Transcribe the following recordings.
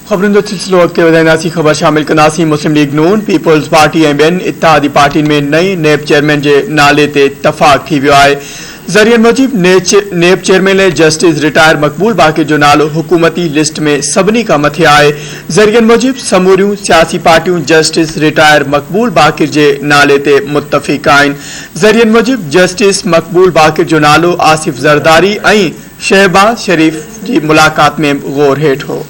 خبرن جو سلسلو اڳتي وڌائينداسين خبر شامل ڪنداسين مسلم ليگ نون، پيپلز پارٽي ۽ ٻين اتحادي پارٽين ۾ نئين نيب چيئرمين جي نالي تي تفاق ٿي ويو آهي ذريعن موجب نيب چيئرمين لئه جسٽس رٽائر مقبول باقر جو نالو حڪومتي لسٽ ۾ سڀني کان مٿي آهي ذريعن موجب سموريون سياسي پارٽيون جسٽس رٽائر مقبول باقر جي نالي تي متفق آهن ذريعن موجب جسٽس مقبول باقر جو نالو آصف زرداري ۽ شهباز شريف جي ملاقات ۾ به غور هيٺ هو.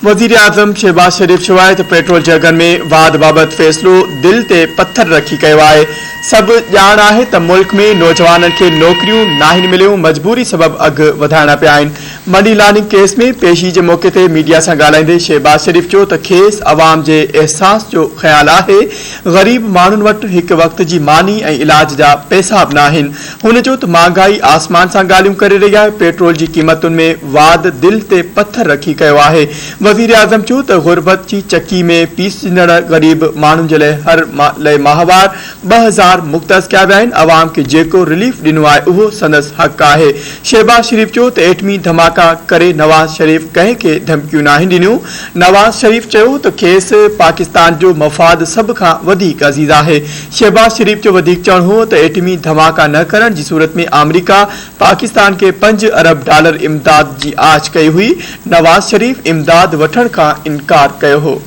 وزيراعظم شهباز شريف چوايو ته پيٽرول جهڳن ۾ واڌ بابت فيصلو دل تي پٿر رکي ڪيو آهي، سڀ ڄاڻ آهي ته ملڪ ۾ نوجوانن کي نوڪريون ناهن مليون مجبوري سبب اگهه وڌائڻا پيا آهن، مني لانڊنگ ڪيس ۾ پيشي جي موقعي تي ميڊيا سان ڳالهائيندي شهباز شريف چيو ته کيس عوام جي احساس جو خيال آهي غريب ماڻهن وٽ هڪ وقت جي ماني ۽ علاج جا پئسا به ناهن. هن چيو ته مهانگائي آسمان سان ڳالهيون ڪري رهي آهي، پيٽرول جي قيمتن ۾ واڌ دل تي پٿر رکي ڪيو آهي. وزيراعظم چيو ته غربت جي چڪي ۾ پيسجندڙ غريب ماڻهن جي لئه هر لئه ماهوار ٻه هزار مختص ڪيا ويا آهن، عوام کي جيڪو رليف ڏنو آهي اهو سندس حق آهي. شهباز شريف چيو ته ايٽمي ڌماڪا ڪري نواز شريف ڪنهن کي ڌمڪيون ناهن ڏنيون، نواز شريف چيو ته کيس پاڪستان جو مفاد سڀ کان وڌيڪ عزيز آهي، شهباز شريف جو وڌيڪ چوڻ هو ته ايٽمي ڌماڪا نه ڪرڻ جي صورت ۾ آمريڪا پاڪستان کي پنج ارب ڊالر امداد جي آڇ ڪئي هئي، نواز شريف امداد وٺڻ کان انڪار ڪيو هو.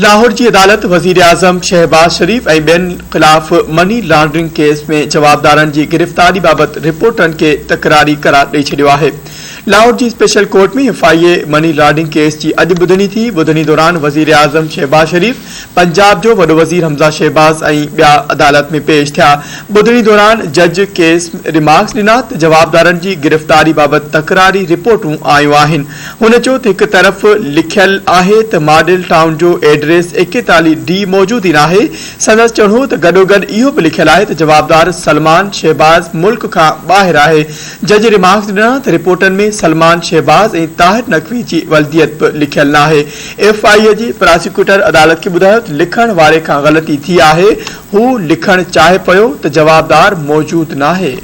لاهور جي عدالت وزيراعظم شهباز شريف ۽ ٻين خلاف مني لانڊرنگ ڪيس ۾ جوابدارن جي گرفتاري بابت رپورٽن کي تڪراري قرار ڏئي ڇڏيو آهي. لاهور جي special court ۾ F I A money laundering case جي اڄ ٻڌڻي ٿي، ٻڌڻي دوران وزيراعظم شهباز شريف، پنجاب جو وڏو وزير حمزه شهباز ۽ ٻيا عدالت ۾ پيش ٿيا، ٻڌڻي دوران جج ڪيس ريمارڪس ڏنا ته جوابدارن جي گرفتاري بابت تڪراري رپورٽون آيون آهن، هن چيو ته هڪ طرف لکيل آهي ته ماڊل ٽائون جو ايڊريس ايڪيتاليهه ڊي موجود ئي ناهي، سندس چوڻهو ته گڏوگڏ اهو به لکيل آهي ته جوابدار سلمان شهباز ملڪ کان ٻاهر آهي، جج ريمارڪس ڏنا ته رپورٽن ۾ سلمان شهباز ۽ طاهر نقوي جي ولديت به لکيل ناهي، ايف آء اي جي پراسيڪيوٽر عدالت کي ٻڌايو ته لکڻ واري کان غلطي ٿي آهي، هو لکڻ چاهي پيو ته جوابدار موجود ناهي.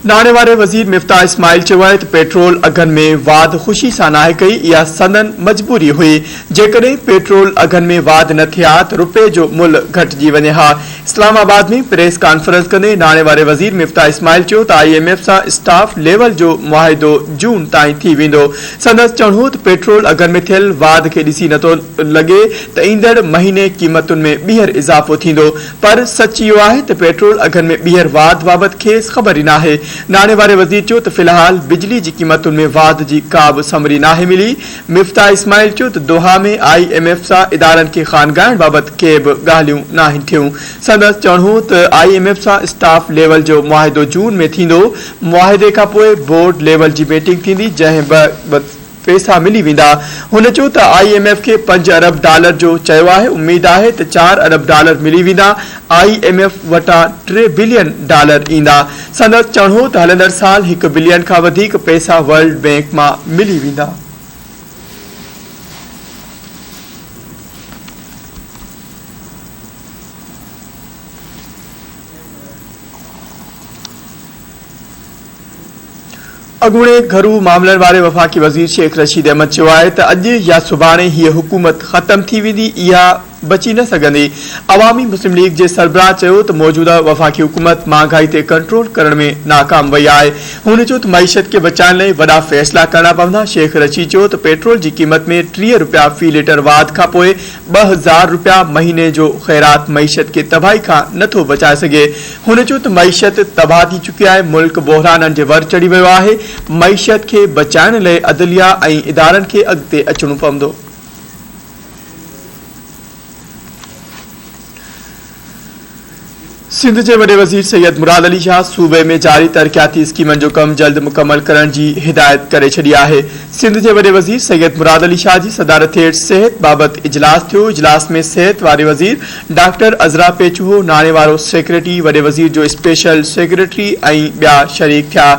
ناڻي واري وزير مفتاح اسماعيل چيو آهي ته پيٽرول اگهن ۾ واڌ خوشي سان ناهي ڪئي، اها سندن مجبوري هئي، جيڪڏهن پيٽرول اگهن ۾ واڌ نه ٿئي ها ته رپئي جو ملهه گهٽجي وڃي ها، اسلام آباد ۾ پريس ڪانفرنس ڪندي ناڻي واري وزير مفتاح اسماعيل چيو ته آء ايم ايف سان اسٽاف ليول جو معاهدو جون تائين ٿي ويندو سندس چوڻهو ته پيٽرول اگهن ۾ ٿيل واڌ کي ڏسي نٿو لڳي ته ايندڙ مهيني قيمتن ۾ ٻيهر اضافو ٿيندو پر سچ اهو آهي ته پيٽرول اگهن ۾ ٻيهر واڌ بابت کيس خبر ئي ناهي ناڻي واري وزير چيو ته في الحال بجلي جي قيمتن ۾ واڌ جي ڪابه سمري ناهي ملي مفتاح اسماعيل چيو ته دوحا ۾ آء ايم ايف سان ادارن کي خانگائڻ بابت ڪي به ڳالهيون ناهن ٿيون، سندس چوڻ هو ته آء ايم ايف سان اسٽاف ليول جو معاهدو جون ۾ ٿيندو، معاهدي کانپوء بورڊ ليول جي ميٽنگ ٿيندي جنهن بابت پئسا ملي ويندا، هن چيو ته آء ايم ايف کي پنج ارب ڊالر جو چيو آهي، اميد آهي ته چار ارب ڊالر ملي ويندا، آء ايم ايف وٽان ٽي بلين ڊالر ايندا. سندس چوڻهو ته هلندڙ سال هڪ بلين کان وڌيڪ پئسا ورلڊ بئنڪ مان ملي ويندا. اڳوڻي گهرو معاملن واري وفاقي وزير شيخ رشيد احمد چيو آهي ته اڄ يا سڀاڻي هيء حڪومت ختم ٿي ويندي، اها بچي نه سگهندي. عوامي مسلم ليگ جي سربراهه چيو ته موجوده وفاقي حڪومت مهانگائي تي ڪنٽرول ڪرڻ ۾ ناڪام وئي آهي. هن چيو ته معيشت کي بچائڻ لئي وڏا فيصلا ڪرڻا پوندا. شيخ رشيد چيو ته پيٽرول جي قيمت ۾ ٽيهه رپيا في ليٽر واڌ کانپوء ٻه هزار رپيا مهيني جو خيرات معيشت کي تباهي کان نه ٿو بچائي سگهي. هن چيو ته معيشت تباهه ٿي چڪي آهي، ملڪ بحرانن جي ور چڙهي ويو آهي، معيشت کي بچائڻ لئي عدليه ۽ ادارن کي اڳتي اچڻو پوندو. سنڌ جي وڏي وزير سيد مراد علي شاهه صوبي ۾ جاري ترقياتي اسڪيمن جو ڪم جلد مڪمل ڪرڻ جي هدايت ڪري ڇڏي آهي سنڌ جي وڏي وزير سيد مراد علي شاهه جي صدارت هيٺ صحت بابت اجلاس ٿيو اجلاس ۾ صحت واري وزير ڊاڪٽر عذرا پيچوهو ناڻي وارو سيڪريٽري وڏي وزير جو اسپيشل سيڪريٽري ۽ ٻيا شريڪ ٿيا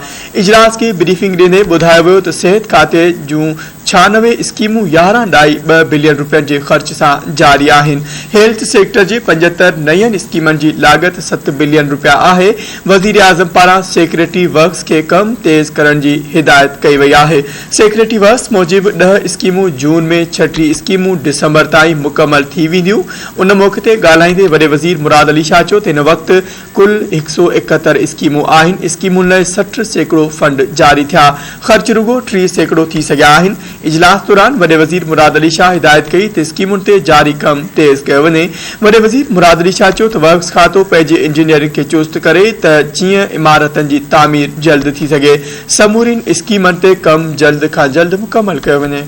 اجلاس کي بريفنگ ڏيندي ٻڌايو ويو ته صحت کاتي جون ڇهانوي اسڪيمون يارهن ڏھائي ٻه بلين روپين جي خرچ سان جاري آھن، ھيلٿ سيڪٽر جي پنجهتر نين اسڪيمن جي لاڳت ست بلين روپيا آھي، وزيراعظم پاران سيڪريٽري ورڪس کي ڪم تيز ڪرڻ جي ھدايت ڪئي وئي آھي، سيڪريٽري ورڪس موجب ڏھ اسڪيمون جون ۾ ڇهه ٽي اسڪيمون ڊسمبر تائين مڪمل ٿي وينديون، ان موقعي تي ڳالھائيندي وڏي وزير مراد علي شاھ چيو ته ھن وقت ڪل هڪ سؤ ايڪهتر اسڪيمون آهن، اسڪيمن لئه سٺ سيڪڙو فنڊ جاري ٿيا، خرچ رڳو ٽيهه سيڪڙو ٿي سگهيا آهن، اجلاس دوران وڏي وزير مراد علي شاهه هدايت ڪئي ته اسڪيمن تي جاري ڪم تيز ڪيو وڃي، وڏي وزير مراد علي شاهه چيو ته ورڪس کاتو پنهنجي انجنيئرن کي چست ڪري ته جيئن عمارتن جي تعمير جلد ٿي سگهي، سمورين اسڪيمن تي ڪم جلد کان جلد مڪمل ڪيو وڃي.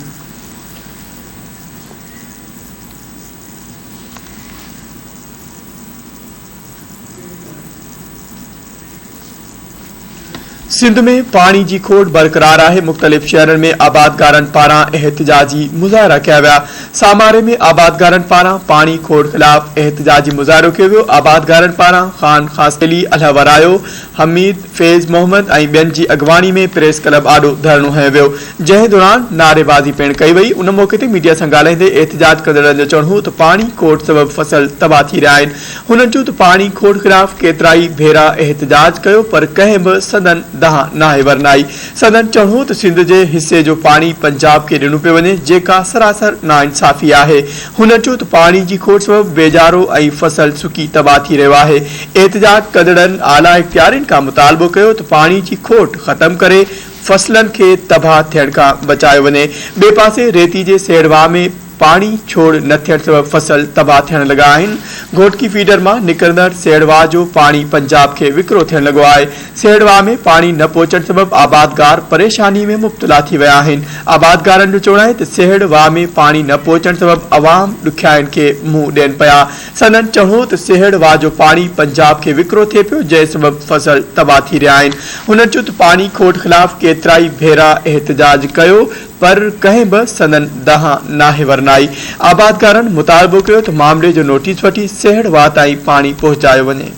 سنڌ ۾ پاڻي جي کوٽ برقرار آهي، مختلف شهرن ۾ آبادگارن پاران احتجاجي مظاهرا ڪيا ويا، ساماري ۾ آبادگارن پاران پاڻي کوٽ خلاف احتجاجي مظاهرو ڪيو ويو، آبادگارن پاران خان خاصخيلي، الهه ورايو، حميد، فيض محمد ۽ ٻين جي اڳواڻي ۾ پريس ڪلب آڏو ڌرڻو هنيو ويو، جنهن دوران نعريبازي پڻ ڪئي وئي، ان موقعي تي ميڊيا سان ڳالهائيندي احتجاج ڪندڙن جو چوڻ هو ته پاڻي کوٽ سبب فصل تباهه ٿي رهيا آهن، هنن چيو ته پاڻي کوٽ خلاف ڪيترائي ڀيرا احتجاج ڪيو پر ڪنهن به سندن دانهن ناهي ورنائي، سندن چوڻ هو ته سنڌ جي حصي جو پاڻي پنجاب کي ڏنو پيو وڃي جيڪا سراسر ناانصافي آهي، هنن چيو ته پاڻي جي کوٽ سبب ويڄارو ۽ فصل سڪي تباهه ٿي رهيو آهي، احتجاج ڪندڙن اعليٰ اختيارين کان مطالبو ڪيو ته پاڻي جي کوٽ ختم ڪري فصلن کي تباهه ٿيڻ کان بچايو وڃي، ٻئي پاسي ريتي جي سيڙ واهه ۾ پاڻي ڇوڙ نه ٿيڻ سبب فصل تباهه ٿيڻ لڳا آهن، گهوٽڪي فيڊر مان نڪرندڙ سيڙ واهه جو پاڻي پنجاب کي وڪرو ٿيڻ لڳو آهي، سيڙ واهه ۾ پاڻي نه پهچڻ سبب آبادگار پريشاني ۾ مبتلا ٿي ويا آهن، آبادگارن جو چوڻ آهي ته سيڙ واهه ۾ پاڻي نه پهچڻ سبب عوام ڏکيائين کي منهن ڏين پيا، سندن چهو ته سهيڙ واهه جو پاڻي پنجاب کي وڪرو ٿئي پيو جنهن سبب فصل تباهه ٿي رهيا آهن هنن چيو ته پاڻي کوٽ خلاف ڪيترائي ڀيرا احتجاج ڪيو پر ڪنهن به سندن ڏانهن ناهي ورنائي آبادگارن مطالبو ڪيو ته معاملي جو نوٽيس وٺي سهيڙ واهه تائين پاڻي پهچايو وڃي.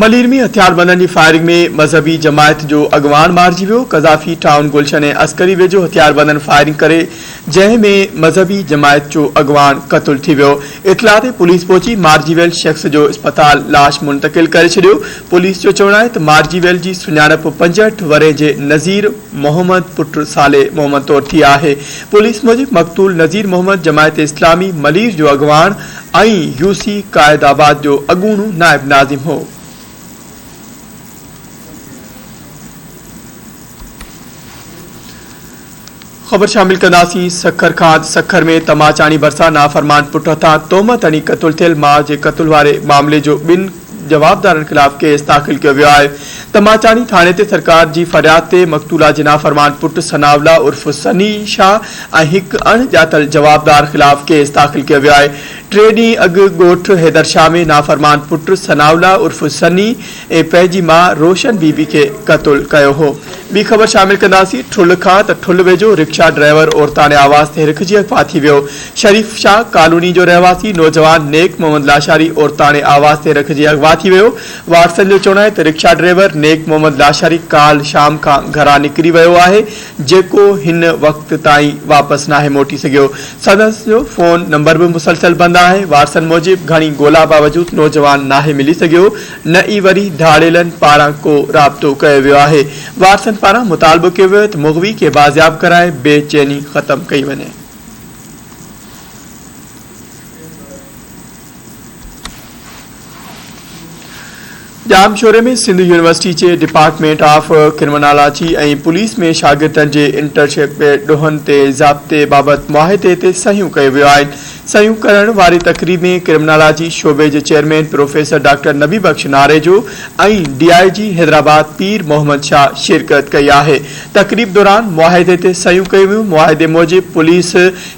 ملير ۾ هٿياربندن جي فائرنگ ۾ مذهبي جماعت جو اڳواڻ مارجي ويو، قذافي ٽائون گلشن ۽ عسڪري ويجهو هٿياربندن فائرنگ ڪري جنهن ۾ مذهبي جماعت جو اڳواڻ قتل ٿي ويو، اطلاع تي پوليس پهچي مارجي ويل شخص جو اسپتال لاش منتقل ڪري ڇڏيو، پوليس جو چوڻ آهي ته مارجي ويل جي سڃاڻپ پنجهٺ ورهين جي نذير محمد پٽ صالح محمد طور ٿي آهي، پوليس موجب مقتول نذير محمد جماعت اسلامي ملير جو اڳواڻ ائين يو سي قائد آباد جو اڳوڻو نائب ناظم هو. خبر شامل ڪنداسين سکر کان سکر ۾ تماچاڻي ڀرسان نافرمان پٽ هٿان تهمت هڻي قتل ٿيل ماء جي قتل واري معاملي جو ٻن جوابدارن خلاف ڪيس داخل ڪيو ويو آهي ته ماچاڻي ٿاڻي تي سرڪار جي فرياد تي مقتولا جي نافرمان پٽ ثناء الله عرف سني شاهه ۽ هڪ اڻ ڄاتل جوابدار خلاف ڪيس داخل ڪيو ويو آهي ٽي ڏينهن اڳ ڳوٺ حيدرشاهه ۾ نافرمان پٽ ثناء الله عرف سني ۽ پنهنجي ماء روشن بي بي کي قتل ڪيو هو ٻي خبر شامل ڪنداسين ٺل کان ته ٺل ويجهو رڪشا ڊرائيور عورتاڻي آواز تي هرکجي اغوا ٿي ويو شريف شاهه ڪالوني جو رهواسي نوجوان نيڪ محمد لاشاري عورتاڻي آواز تي رکجي اغوا ٿي ويو. وارثن جو چوڻ آهي ته رڪشا ڊرائيور نيڪ محمد لاشاري ڪالهه شام کان گهران نڪري ويو آهي جيڪو هن وقت تائين واپس ناهي موٽي سگهيو. سندس جو فون نمبر به مسلسل بند آهي. وارثن موجب گهڻي ڳولا باوجود نوجوان ناهي ملي سگهيو نه ئي وري ڌاڙيلن پاران ڪو رابطو ڪيو ويو آهي. وارثن پاران مطالبو ڪيو ويو ته مغوي کي بازياب ڪرائي بي چيني ختم ڪئي وڃي. ڄامشوري ۾ سنڌ يونيورسٽي جي ڊپارٽمينٽ آف ڪرمنالاجي ۽ پوليس ۾ شاگردن جي انٽرشپ ڏوهن تي ضابطي بابت معاهدي تي صحيحون ڪيون ويون آهن صحيحون ڪرڻ واري تقريب ۾ ڪرمنالاجي شعبي جي chairman professor doctor Nabi Bakhsh Narejo ۽ D I G Hyderabad پير محمد شاهه شرڪت ڪئي آهي تقريب دوران معاهدي تي صحيحون ڪيون ويون، معاهدي موجب پوليس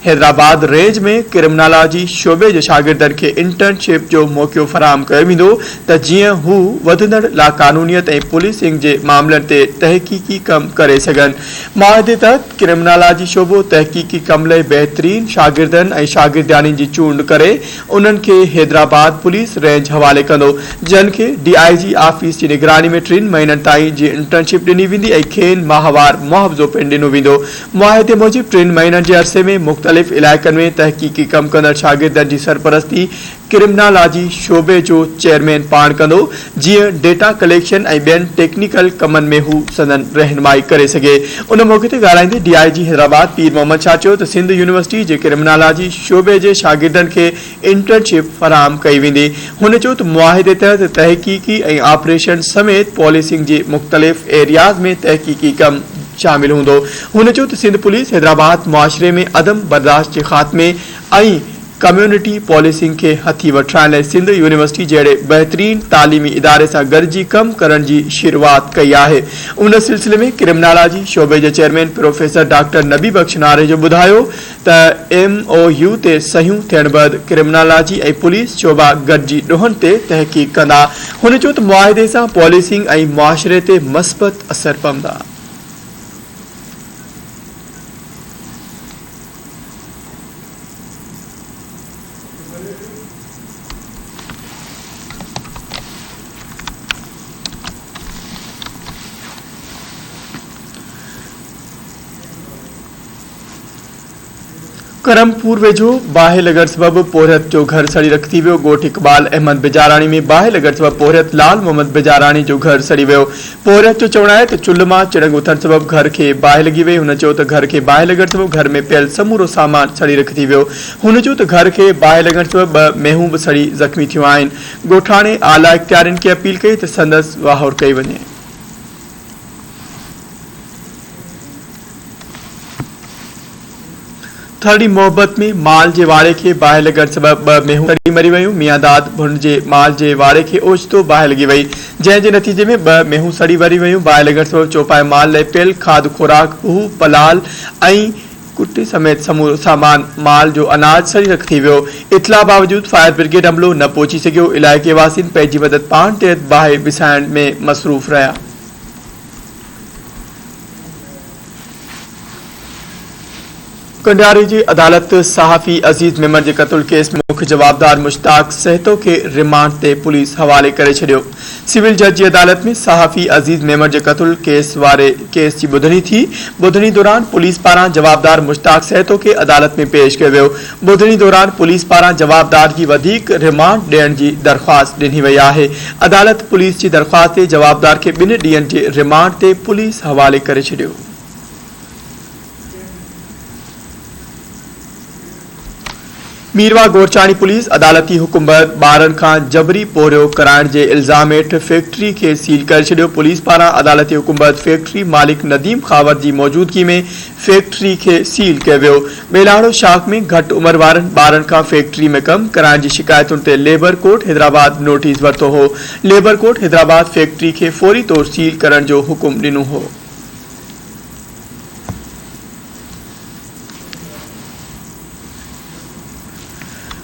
حيدرآباد رينج ۾ ڪرمنالاجي شعبي جي شاگردن کي انٽرن شپ جو موقعو فراهم ڪيو ويندو ته جيئن هو وڌندڙ لاقانونيت ۽ پوليسنگ جي معاملن تي تحقيقي ڪم ڪري سگهن، معاهدي تحت ڪرمنالاجي شعبو تحقيقي ڪم لئي بهترين شاگردن ۽ شاگردياڻين جي چونڊ ڪري انهن کي حيدرآباد پوليس رينج حوالي ڪندو، جن کي ڊي آء جي آفيس جي نگراني ۾ ٽن مهينن تائين جي انٽرنشپ ڏني ويندي ۽ کين ماهوار معاوضو پڻ ڏنو ويندو. معاهدي موجب ٽن مهينن جي عرصي ۾ مختلف علائقن ۾ تحقيقي ڪم ڪندڙ شاگردن جي سرپرستي ڪرمنالاجي شعبي جو چيئرمين پاڻ ڪندو، جيئن ڊيٽا ڪليڪشن ۽ ٻين ٽيڪنيڪل ڪمن ۾ هو سندن رهنمائي ڪري سگهي. ان موقعي تي ڳالهائيندي ڊي آء جي حيدرآباد پير محمد شاهه چيو ته سنڌ يونيورسٽي جي ڪرمنالاجي شعبي جي شاگردن کي انٽرن شپ فراهم ڪئي ويندي. هن چيو ته معاهدي تحت تحقيقي ۽ آپريشن سميت پوليسنگ جي مختلف ايرياز ۾ تحقيقي ڪم شامل هوندو. هن چيو ته سنڌ پوليس حيدرآباد معاشري ۾ عدم برداشت جي خاتمي ۽ ڪميونٽي پوليسنگ کي هٿي وٺرائڻ لاء سنڌ يونيورسٽي جهڙي بهترين تعليمي اداري سان گڏجي ڪم ڪرڻ جي شروعات ڪئي آهي ان سلسلي ۾ ڪرمنالاجي شعبي جي chairman professor doctor Nabi Bakhsh Narejo ٻڌايو ته ايم او يو تي صحيحون ٿيڻ بعد ڪرمنالاجي ۽ پوليس شعبا گڏجي ڏوهن تي تحقيق ڪندا هن چيو ته معاهدي سان پوليسنگ ۽ معاشري تي مثبت اثر پوندا. ڪرم پور ويجهو باهه لڳڻ سبب پورهيت جو گهر سڙي رک ٿي ويو ڳوٺ اقبال احمد بجاراڻي ۾ باهه لڳڻ سبب پورهيت لال محمد بجاراڻي جو گهر سڙي ويو پورهيت جو چوڻ آهي ته چلهه مان چڻنگ اٿڻ سبب گهر کي باهه لڳي وئي، هن چيو ته گهر کي باهه لڳڻ سبب گهر ۾ پيل سمورو سامان سڙي رک ٿي ويو، هن چيو ته گهر کي باهه لڳڻ سبب ٻه مينهون به سڙي زخمي ٿيون آهن، ڳوٺاڻي اعليٰ اختيارين کي اپيل ڪئي ته سندس واهور ڪئي وڃي. ٿرڙي محبت ۾ مال جي واڙي کي باهه لڳڻ سبب ٻه مينهون سڙي مري ويون. ميان داد ڀنڊ جي مال جي واڙي کي اوچتو باهه لڳي وئي، جنهن جي نتيجي ۾ ٻه مينهون سڙي مري ويون. باهه لڳڻ سبب چوپائي مال لئي پيل کاڌ خوراڪ، پهو پلال ۽ ڪٽي سميت سمورو سامان، مال جو اناج سڙي رک ٿي ويو. اطلاع باوجود فائر برگيڊ عملو نه پهچي سگهيو. علائقي واسين پنهنجي مدد پاڻ تحت باهه وسائڻ ۾ مصروف رهيا. ڪنڊاري جي عدالت صحافي عزيز ميمڻ جي قتل ڪيس ۾ مک جوابدار مشتاق سهتو کي رمانڊ تي پوليس حوالي ڪري ڇڏيو. سول جج جي عدالت ۾ صحافي عزيز ميمڻ جي قتل ڪيس واري ڪيس جي ٻڌڻي ٿي. ٻڌڻي دوران پوليس پاران جوابدار مشتاق سهتو کي عدالت ۾ پيش ڪيو ويو. ٻڌڻي دوران پوليس پاران جوابدار جي وڌيڪ رمانڊ ڏيڻ جي درخواست ڏني وئي آهي، عدالت پوليس جي درخواست تي جوابدار کي ٻن ڏينهن جي رمانڊ تي پوليس حوالي ڪري ڇڏيو. ميرواهه گورچاڻي پوليس عدالتي حڪم بعد ٻارڙن کان جبري پورهيو ڪرائڻ جي الزام هيٺ فيڪٽري کي سيل ڪري ڇڏيو، پوليس پاران عدالتي حڪم بعد فيڪٽري مالڪ نديم خاور جي موجودگي ۾ فيڪٽري کي سيل ڪيو ويو. ٻيلاڙو شاخ ۾ گهٽ عمر وارن ٻارن کان فيڪٽري ۾ ڪم ڪرائڻ جي شڪايتن تي ليبر ڪورٽ حيدرآباد نوٽيس ورتو هو. ليبر ڪورٽ حيدرآباد فيڪٽري کي فوري طور سيل ڪرڻ جو حڪم ڏنو هو.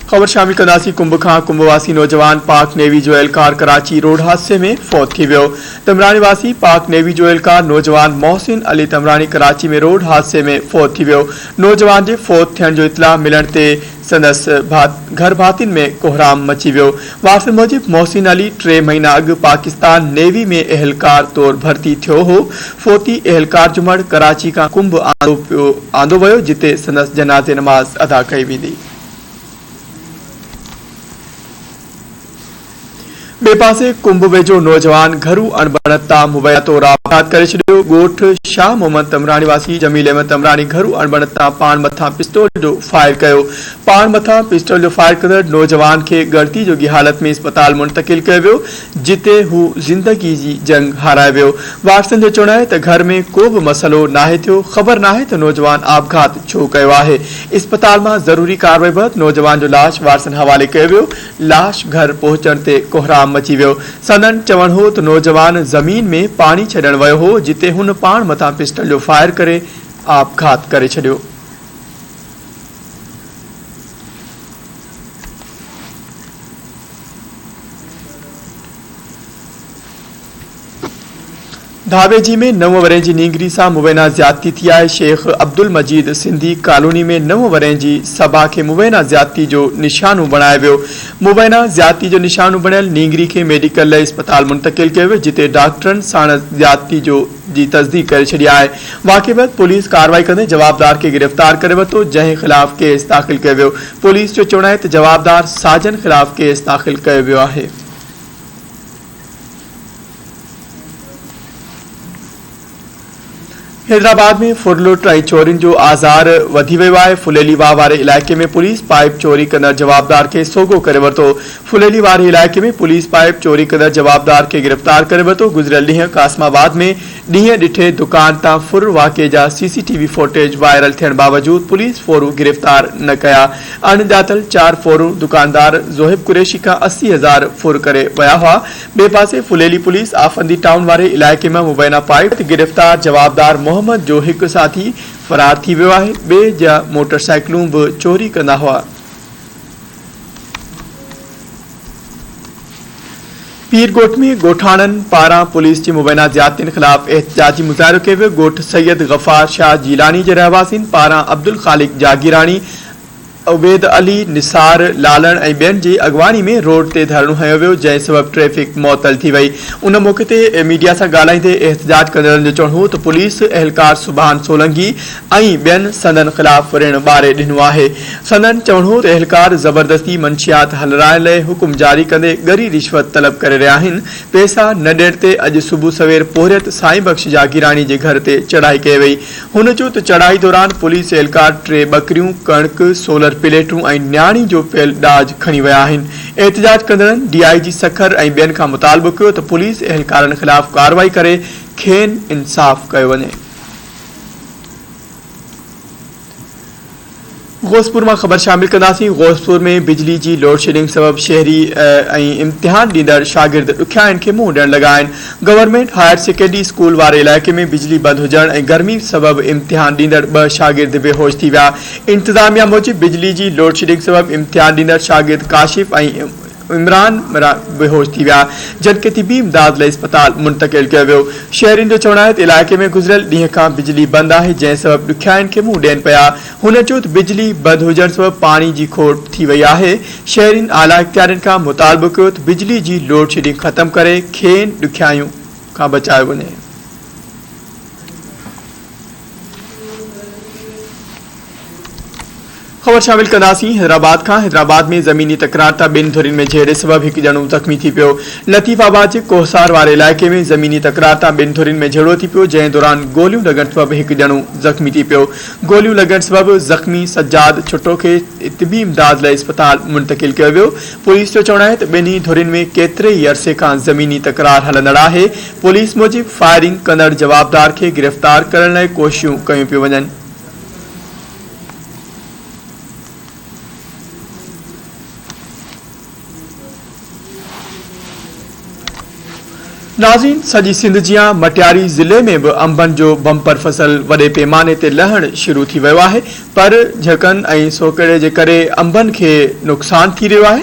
خبر شامل ڪنداسين ڪنڀ کان ڪنڀ واسي نوجوان پاڪ نيوي جو اهلڪار ڪراچي روڊ حادثي ۾ فوت ٿي ويو تمراڻي واسي پاڪ نيوي جو اهلڪار نوجوان محسن علي تمراڻي ڪراچي ۾ روڊ حادثي ۾ فوت ٿي ويو نوجوان جي فوت ٿيڻ جو اطلاع ملڻ تي سندس گهر ڀاتين ۾ ڪوهرام مچي ويو وارثن موجب محسن علي ٽي مهينا اڳ پاڪستان نيوي ۾ اهلڪار طور ڀرتي ٿيو هو فوتي اهلڪار جمعڙ ڪراچي کان ڪنڀ آندو ويو جتي سندس جنازي نماز ادا ڪئي ويندي. ٻئي پاسي ڪنڀ ويجهو نوجوان گهرو اڻبڻت تان موبائلاتو را وفات ڪري ڇڏيو، ڳوٺ شاهه محمد تمراڻي واسي جميل احمد تمراڻي گهرو اڻبڻت تان پاڻ مٿان پسٽول جو فائر ڪيو، پاڻ مٿان پسٽول جو فائر ڪندڙ نوجوان کي ڳڻتي جوڳي حالت ۾ اسپتال منتقل ڪيو ويو، جتي هو زندگي جي جنگ هارائي ويو. وارثن جو چوڻ آهي ته گهر ۾ ڪو به مسئلو ناهي ٿيو، خبر ناهي ته نوجوان آپگهات ڇو ڪيو آهي. اسپتال مان ضروري ڪاروائي بعد نوجوان جو لاش وارثن حوالي ڪيو ويو. لاش گهر پهچڻ تي ڪهرام مچي ويو. سندن چوڻ هو ته نوجوان زمين ۾ پاڻي ڇڏڻ ويو هو جتي هن پاڻ مٿان پسٽل جو فائر ڪري آپگهات ڪري ڇڏيو. ڌاويجي ۾ نو ورهين جي نينگري سان مبينا زيادتي ٿي آهي، شيخ عبدالمجيد سنڌي ڪالوني ۾ نو ورهين جي صبا کي مبينا زيادتي جو نشانو بڻايو ويو، مبينا زيادتي جو نشانو بڻيل نينگري کي ميڊيڪل لئه اسپتال منتقل ڪيو ويو جتي ڊاڪٽرن ساڻس زيادتي جو جي تصديق ڪري ڇڏي آهي واقعي بعد پوليس ڪارروائي ڪندي جوابدار کي گرفتار ڪري ورتو جنهن خلاف ڪيس داخل ڪيو ويو پوليس جو چوڻ آهي ته جوابدار ساجن خلاف ڪيس داخل ڪيو ويو آهي. حيدرآباد ۾ ڦرلٽ ۽ چورين جو آزار وڌي ويو آهي ڦليلي واهه واري علائقي ۾ پوليس پائيپ چوري ڪندڙ جوابدار کي سوگهو ڪري ورتو ڦليلي واري علائقي ۾ پوليس پائيپ چوري ڪندڙ جوابدار کي گرفتار ڪري ورتو، گذريل ڏينهن قاسم آباد ۾ ڏينهن ڏٺي دڪان تان ڦر واقعي جا C C T V footage viral ٿيڻ باوجود پوليس ڦورون گرفتار نه ڪيا، اڻڄاتل چار ڦورون دڪاندار زوهب قريشي کان اسي هزار ڦر ڪري ويا هئا، ٻئي پاسي ڦليلي پوليس آفندي ٽائون واري علائقي مان مبينا پائيپ تي گرفتار جوابدار محمد جو هڪ ساٿي فرار ٿي ويو آهي، ٻئي جا موٽر سائيڪلون به چوري ڪندا هئا. پير ڳوٺ ۾ ڳوٺاڻن پاران پوليس جي مبينا زيادتين خلاف احتجاجي مظاهرو ڪيو ويو ڳوٺ سيد غفار شاهه جيلاني جي رهواسين پاران عبدالخالق جاگيراڻي عبيد علي نثار لالڻ ۽ ٻين جي اڳواڻي ۾ روڊ تي ڌرڻو هنيو ويو جنهن سبب ٽريفڪ معطل ٿي وئي ان موقعي تي ميڊيا سان ڳالهائيندي احتجاج ڪندڙن جو چوڻ هو ته پوليس اهلڪار سبحان سولنگي ۽ ٻين سندن خلاف ريڻ ٻاري ڏنو آهي. سندن چوڻ هو ته اهلڪار زبردستي منشيات هلرائڻ لئه حڪم جاري ڪندي ڳري رشوت طلب ڪري رهيا آهن، پيسا نه ڏيڻ تي اڄ صبح سوير پورهيت سائين بخش جاگيراڻي جي گهر تي چڙهائي ڪئي وئي، هن چيو ته چڙهائي دوران پوليس اهلڪار ٽي ٻڪريون، ڪڻڪ، سولر پليٽون ۽ نياڻي جو پيل ڏاج کڻي ويا آهن، احتجاج ڪندڙن ڊي آء جي سکر ۽ ٻين کان مطالبو ڪيو ته پوليس اهلڪارن خلاف ڪارروائي ڪري کين انصاف ڪيو وڃي. غوثپور مان خبر شامل ڪنداسين غوثپور ۾ بجلي جي لوڊشيڊنگ سبب شهري ۽ امتحان ڏيندڙ شاگرد ڏکيائين کي منهن ڏيڻ لڳا آهن گورنمينٽ هائر سيڪنڊري اسڪول واري علائقي ۾ بجلي بند هجڻ ۽ گرمي سبب امتحان ڏيندڙ ٻه شاگرد بي هوش ٿي ويا انتظاميا موجب بجلي جي لوڊشيڊنگ سبب امتحان ڏيندڙ شاگرد ڪاشف ۽ عمران عمران بيهوش ٿي ويا جڏھن طبي امداد لئي اسپتال منتقل ڪيو ويو شھرين جو چوڻ آھي ته علائقي ۾ گذريل ڏينهن کان بجلي بند آھي جنهن سبب ڏکيائين کي منهن ڏين پيا هن چيو ته بجلي بند هجڻ سبب پاڻي جي کوٽ ٿي وئي آھي شھرين اعليٰ اختيارين کان مطالبو ڪيو ته بجلي جي لوڊ شيڊنگ ختم ڪري کين ڏکيائين کان بچايو وڃي. خبر شامل ڪنداسين حيدرآباد کان حيدرآباد ۾ زميني تڪرار تان ٻن ڌرين ۾ جهيڙي سبب هڪ ڄڻو زخمي ٿي پيو لطيف آباد جي ڪوهسار واري علائقي ۾ زميني تڪرار تان ٻن ڌرين ۾ جهيڙو ٿي پيو جنهن دوران گوليون لڳڻ سبب هڪ ڄڻو زخمي ٿي پيو گوليون لڳڻ سبب زخمي سجاد ڇٽو کي طبي امداد لاء اسپتال منتقل ڪيو ويو پوليس جو چوڻ آهي ته ٻنهي ڌرين ۾ ڪيتري ئي عرصي کان زميني تڪرار هلندڙ آهي پوليس موجب فائرنگ ڪندڙ جوابدار کي گرفتار ڪرڻ لاء ڪوششون ڪيون پيون وڃن. ناظرين سڄي سنڌ جيان مٽياري ضلعي ۾ به انبن جو بمپر فصل وڏي پيماني تي لهڻ شروع ٿي ويو آهي پر جهڪن ۽ سوڪهڙي جي ڪري انبن کي نقصان ٿي رهيو آهي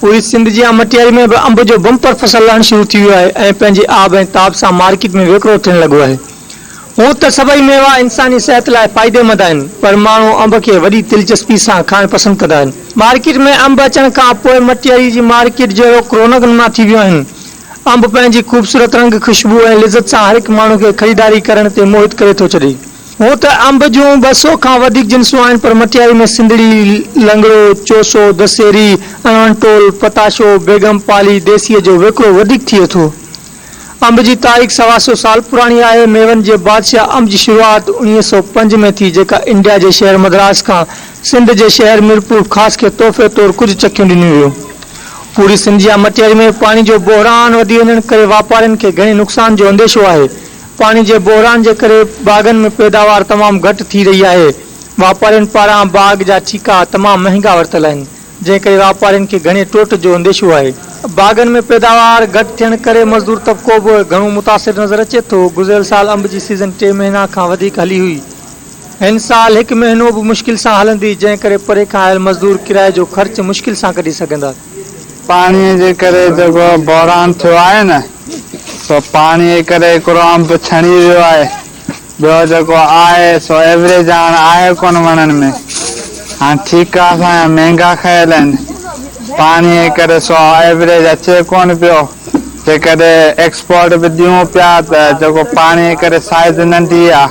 پوري سنڌ جيان مٽياري ۾ به انب جو بمپر فصل لهڻ شروع ٿي ويو آهي ۽ پنهنجي آب ۽ تاب سان مارڪيٽ ۾ وڪرو ٿيڻ لڳو آهي. هونء ته سڀئي ميوا انساني صحت لاء فائديمند آهن پر ماڻهو انب کي وڏي دلچسپي سان کائڻ پسند ڪندا آهن. مارڪيٽ ۾ انب اچڻ کان پوء مٽياري جي مارڪيٽ جهڙوڪ رونق نما ٿي ويون آهن. انب پنهنجي خوبصورت رنگ، خوشبو ۽ لذت سان هر هڪ ماڻهو کي خريداري ڪرڻ تي موهت ڪري ٿو ڇڏي. هونء ته انب جون ٻه سؤ کان وڌيڪ جنسون آهن پر مٺياري ۾ سنڌڙي، لنگڙو، چوسو، دسيري، اڻوڻ ٽول، پتاشو، بيگم پالي، ديسيء جو وڪرو وڌيڪ ٿئي ٿو. انب جي تاريخ سوا سؤ سال پراڻي آهي. ميون جي بادشاهه انب جي شروعات اڻيهه سؤ پنج ۾ ٿي جيڪا انڊيا جي شهر مدراس کان سنڌ جي شهر ميرپور خاص کي تحفي طور ڪجهه چڪيون ڏنيون ويون. پوري سنڌ يا مٺياري ۾ پاڻي جو بحران وڌي وڃڻ ڪري واپارين کي گهڻي نقصان جو انديشو آهي. پاڻي جي بحران جي ڪري باغن ۾ پيداوار تمام گهٽ ٿي رهي آهي، واپارين پاران باغ جا ٺيڪا تمام مهنگا ورتل آهن، جنهن ڪري واپارين کي گهڻي ٽوٽ جو انديشو آهي. باغن ۾ پيداوار گهٽ ٿيڻ ڪري مزدور طبقو به گهڻو متاثر نظر اچي ٿو، گذريل سال انب جي سيزن ٽي مهينا کان وڌيڪ هلي هئي، هن سال هڪ مهينو به مشڪل سان هلندي، جنهن ڪري پري کان آيل مزدور ڪرائي جو خرچ مشڪل سان ڪڍي سگهندا. پاڻيء جي ڪري جيڪو بحران ٿيو آهي نه، سو پاڻيء جي ڪري هڪڙو انب ڇڻي ويو آهي، ٻيو جيڪو آهي سو ايوريج هاڻ آهي ڪونه وڻن ۾. هاڻ ٺيڪا اسان جا مهنگا کيل آهن، پاڻيء جي ڪري سو ايوريج اچي ڪونه پيو، جيڪڏهن ايڪسپورٽ به ڏيون پيا ته جيڪو پاڻيء جي ڪري سائيز ننڍي آهي،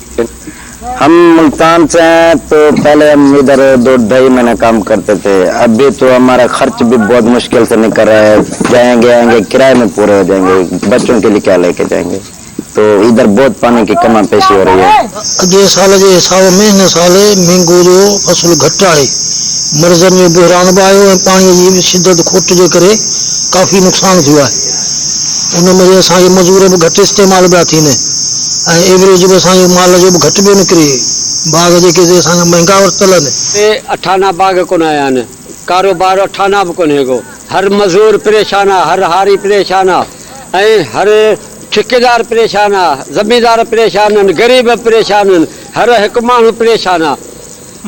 ھم ملتان سے ھين تو پھلي ھم ادھر دو ڈھائي مھينه ڪام ڪرتي ٿي ابھي تو ھمارا خرچ بھي بھت مشڪل سي نڪل رھا ھي جائين گي آئين گي ڪرايي مي پوري ھو جائين گي بچون ڪي لئي ڪيا ليڪي جائين گي تو ادھر بھت پاني ڪي ڪما پيشي ھو رھي ھي. اڳئين سال جي حساب ۾ ھن سال مينگو جو فصل گھٽ آھي مرضن جو بحران به آيو ۽ پاڻي جي به شدت کوٽ جي ڪري ڪافي نقصان ٿيو آھي ان مھري اسان جي مزور به گھٽ استعمال پيا ٿين. ۽ ايوريج به اسان جو مال جو به گهٽ پيو نڪري. باغ جيڪي سي اسان کان مهنگا ورتل آهن. سي اٺانا باغ ڪونه آيا آهن. ڪاروبار اٺانا به ڪونهي ڪو. هر مزور پريشان آ، هر هاري پريشان آ ۽ هر ٺڪيدار پريشان آ. زميندار پريشان آهن، غريب به پريشان آهن، هر هڪ ماڻهو پريشان آ.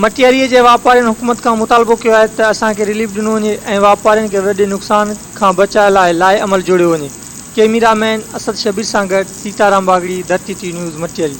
مٽياريء جي واپارين حڪومت کان مطالبو ڪيو آهي ته اسان کي رليف ڏنو وڃي ۽ واپارين کي وڏي نقصان کان بچاء لاء لائحه عمل جوڙيو وڃي. ڪيميرا مين اسد شبير سان گڏ سيتارام واڳڙي، ڌرتي ٽي نيوز مٽياري.